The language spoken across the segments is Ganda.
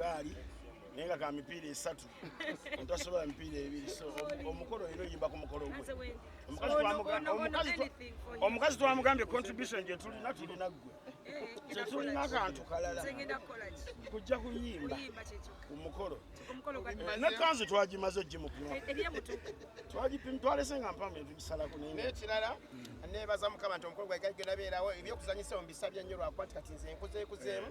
gaali naye nga ka mipiira esatu omuntu asobola mipiira ebiri so omukolo era oyimba ku mukolo gwe omukazi twamugambye contribution gyetulina tulina ggwe tetulina kantu kalala kujja kuyimba ku mukolo ne kanzu twagimaze ogimukuma twalese nga mpamu etugisalako nekirala nebaza mukama nti omukolo gwagagenda beerawo ebyokuzanyisa omubisabye nnyo lwakuba ti kati nze nkuzeekuzeemu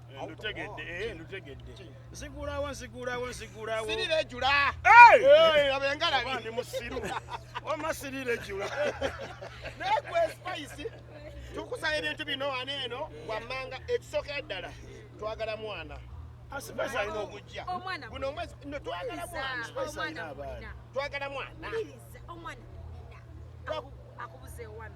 ndutegedde eh, ndutegedde nzigulawo nzigulawo nzigulawo sirira ejula abengalabi ndi musiru wama sirira ejula naye gwe spice tukusaba ebintu bino wano eno wammanga ekisookera ddala twagala mwana asipesa alina okujja guno omwezi no twagala mwana sipesa alina abaana twagala mwana akubuze wano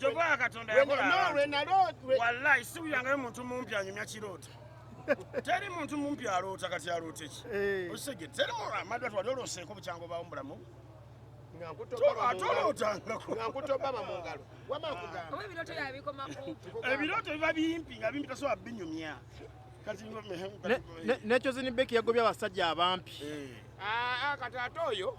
Jova Katonda yakola abantu. Wallahi si uyangayo muntu mumpi anyumya kirooto. Teri muntu mumpi aloota kati aloota ki? Eh. Osege teri mu amadwa twali oloseeko bukyango bawo mulamu. Ebirooto biba bimpi nga bimpi tasobola binyumya. nekyozini beki yagobye abasajja abampi eh. ah, ah, kati ate oyo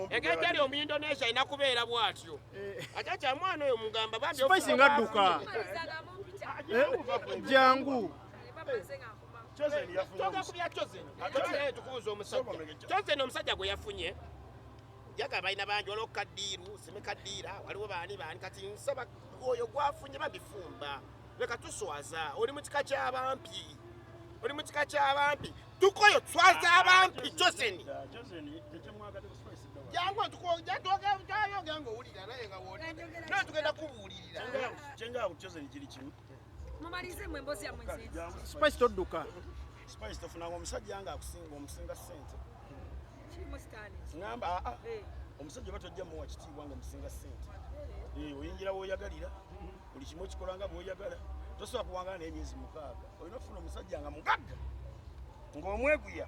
egejali omuindonesia alina kubeera bwatyo eh. ate kyamwana oyo mugamba bambispisi nga dduka eh, jangu toga kubya chozen tukubuza omusajja chozen omusajja gwe yafunye njaga balina bangi waliwo kaddiiru sime kaddiira waliwo baani baani kati nsaba oyo gwafunye babifumba leka tuswaza oli mu kika ky'abampi oli mu kika ky'abampi tukoyo tuswaza abampi joseni jangu tugenda kubuulirira naye tugenda kubuulirira Mumalize mwe mbozi ya mwenzi. Spice todduka. Spice tofuna ngo musajja anga akusinga omusinga sente. Chimo stani. Ngamba a ah, a. Ah. Eh. Omusajja batojja mu wakiti wango omusinga sente. Eh, eh oyingira wo yagalira. Buli kimo kikolanga bo yagala. Tosobola kuwangana n'emyezi mukaaga. Oyina ofuna omusajja nga mugagga. Ng'omweguya.